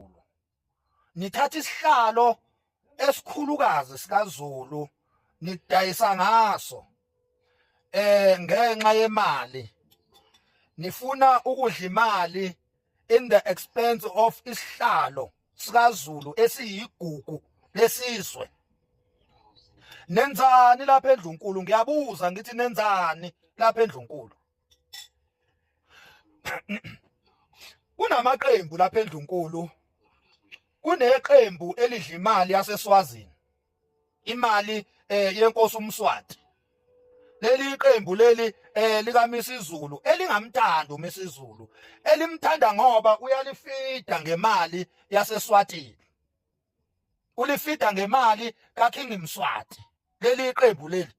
kaZulu nithatha isihlalo esikhulukazi sikaZulu nidayisa ngaso eh ngenxa yemali nifuna ukudla imali in the expense of isihlalo sikaZulu esiyigugu lesizwe nenzani lapha endlunkulu ngiyabuza ngithi nenzani lapha endlunkulu kunamaqembu lapha endlunkulu kuneqembu elidla imali yaseSwazini imali eh yenkosi uMswati leli iqembu leli eh likaMisizulu elingamthanda uMisizulu elimthanda ngoba uyalifida ngemali yaseSwatini ulifida ngemali kaKing Mswati leli iqembu leli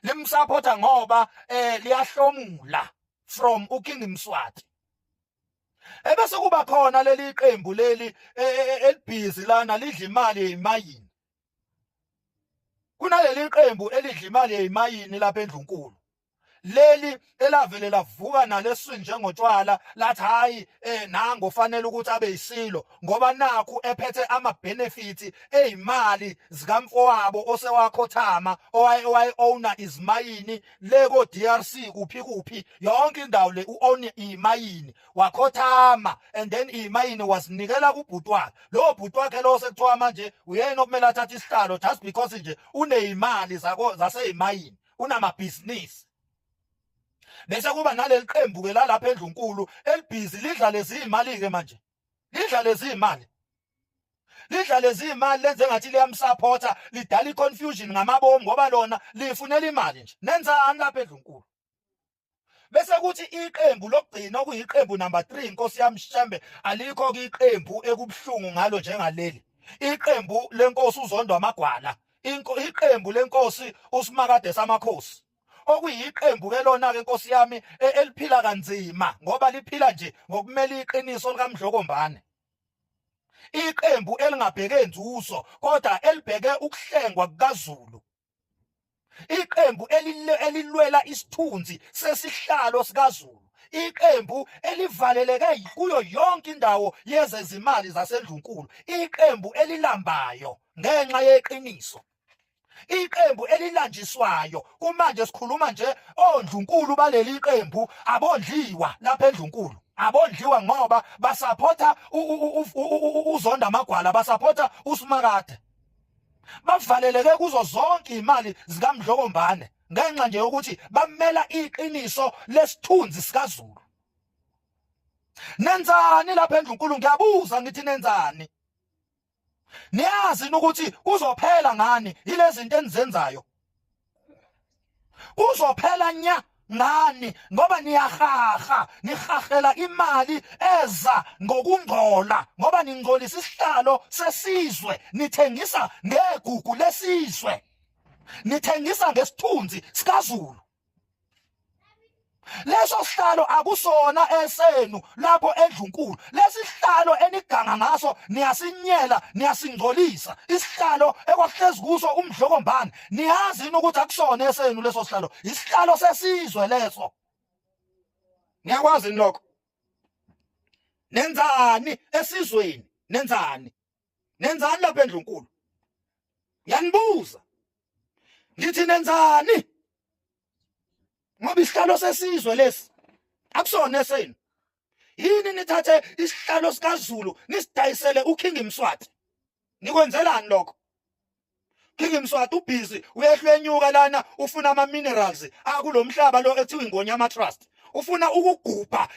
limsupporta ngoba eh liyahlomula from uKing Mswati ebese kuba khona leli qembu leli e, e, e, elibhizi lana lidla imali yemayini kunaleli qembu elidla imali yemayini lapha endlunkulu leli elavele lavuka naleswini njengotshwala lathi hayi eh nango fanele ukuthi abe yisilo ngoba nakhu ephethe ama benefits ezimali zikamfowabo osewakhothama owaye owaye owner izimayini le ko DRC kuphi kuphi yonke indawo le u own imayini wakhothama and then imayini wasinikela kubhuti wakhe lo bhuti wakhe lo sekuthiwa manje uyena okumele athathe isihlalo just because nje unezimali zako zaseyimayini unamabhizinisi bese kuba naleli qembu ke lalapha endlunkulu elibhizi lidla lezi imali ke manje lidla lezi imali lidla lezi imali lenze ngathi liyamsupporta lidala iconfusion ngamabomu ngoba lona lifunela imali nje nenzani lapha endlunkulu bese kuthi iqembu lokugcina okuyiqembu number 3 inkosi yamshembe alikho ke iqembu ekubuhlungu ngalo njengaleli iqembu lenkosi uzondwa amagwala iqembu lenkosi usimakade samakhosi okuyiqembu ke lona ke Nkosi yami e, eliphila kanzima ngoba liphila nje ngokumela iqiniso likamdlokombane iqembu elingabheke nzuzo kodwa elibheke ukuhlengwa kukaZulu iqembu elilwela isithunzi sesihlalo sikaZulu iqembu elivaleleke kuyo yonke indawo yezezimali zasendlunkulu iqembu elilambayo ngenxa yeqiniso iqembu elilanjiswayo kumanje sikhuluma nje ondlunkulu baleli qembu abondliwa lapha endlunkulu abondliwa ngoba basaphotha uzonda amagwala basaphotha usimakade bavaleleke kuzo zonke imali zikamdlokombane ngenxa nje yokuthi bamela iqiniso lesithunzi sikaZulu nenzani lapha endlunkulu ngiyabuza ngithi nenzani niyazi ukuthi kuzophela ngani ilezinto enizenzayo kuzophela nya ngani ngoba niyahaha nihahela imali eza ngokungcola ngoba ningcolisa isihlalo sesizwe nithengisa ngegugu lesizwe nithengisa ngesithunzi sikaZulu leso sihlalo akusona esenu lapho endlunkulu lesihlalo eniganga ngaso niyasinyela niyasingcolisa isihlalo ekwahlezi kuso umdlokombane niyazi ukuthi akusona esenu leso sihlalo isihlalo sesizwe leso niyakwazi lokho nenzani esizweni nenzani nenzani lapha endlunkulu yanibuza ngithi nenzani ngoba isihlalo sesizwe lesi akusona esenu yini nithathe isihlalo sikaZulu nisidayisele uKing Mswati nikwenzelani lokho King Mswati ubhizi uyehlwenyuka lana ufuna ama minerals akulomhlaba lo ethiwa ingonyama trust ufuna ukugubha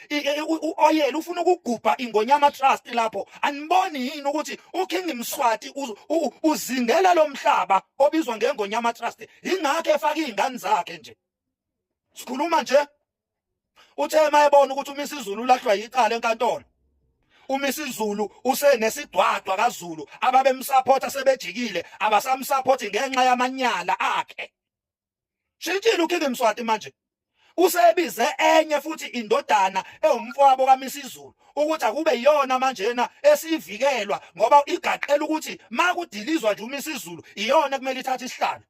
uoyela ufuna ukugubha ingonyama trust lapho aniboni yini ukuthi uKing Mswati uzingela lomhlaba obizwa ngengonyama trust ingakho efaka izingane zakhe nje sikhuluma nje uthe mayebona ukuthi umisa izulu ulahlwa yicala enkantolo umisa izulu usenesidwadwa kazulu ababemsupport sebejikile abasamsupport ngenxa yamanyala akhe shintshile ukhiphe mswati manje usebize enye futhi indodana ewumfowabo kaMisizulu ukuthi akube iyona manjena esivikelwa ngoba igaqela ukuthi makudilizwa nje uMisizulu iyona kumele ithathe isihlalo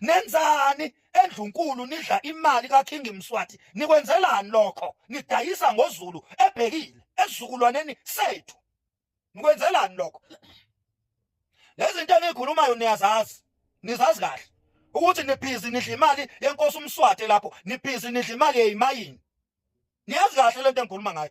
nenzani endlunkulu nidla imali kaKing Mswati nikwenzelani lokho nidayisa ngozulu ebhekile esizukulwaneni sethu nikwenzelani lokho lezinto enikhulumayo niyazazi nizazi kahle ukuthi nibhizi nidla imali yenkosi uMswati lapho nibhizi nidla imali yeyimayini niyazi kahle lento engikhuluma ngayo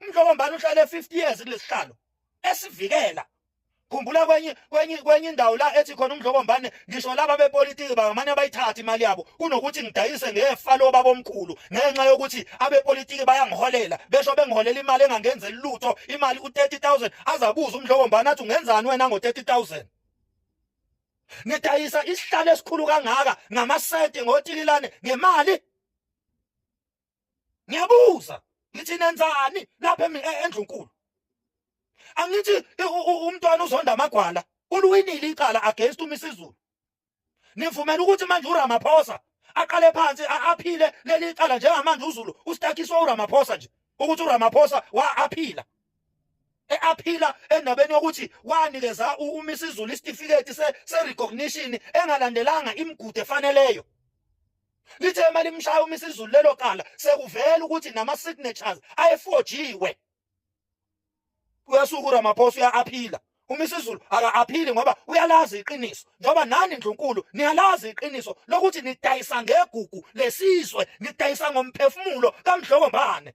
umdlokombane uhlale 50 years kulesihlalo esivikela khumbula kwenye kwenye kwenye indawo la ethi khona umdlokombane ngisho laba bepolitiki bangamane bayithathe imali yabo kunokuthi ngidayise ngefa lo babomkhulu ngenxa yokuthi abepolitiki bayangiholela besho bengiholela imali engangenzeli lutho imali u30000 azabuza umdlokombane athi ungenzani wena ngo30000 ngidayisa isihlalo esikhulu kangaka ngamasenti ngotililane ngemali ngiyabuza ngithi nenzani lapha e-, endlunkulu angithi umntwana uzonda amagwala uluwinile icala against umisizulu nivumela ukuthi manje uramaphosa aqale phansi aphile leli cala njengamanje uzulu ustakiswa uramaphosa nje ukuthi uramaphosa wa aphila eaphila endabeni yokuthi wanikeza umisa izulu isitifiketi se-recognition engalandelanga imigudu efaneleyo lithe uma limshaya uma isizulu lelo cala sekuvela ukuthi nama-signatures ayefojiwe uyasuka uramaphosa uya-aphila uma isizulu aka-aphili ngoba uyalazi iqiniso njengoba nani ndlunkulu niyalazi iqiniso lokuthi nidayisa ngegugu lesizwe nidayisa ngomphefumulo kamdlokombane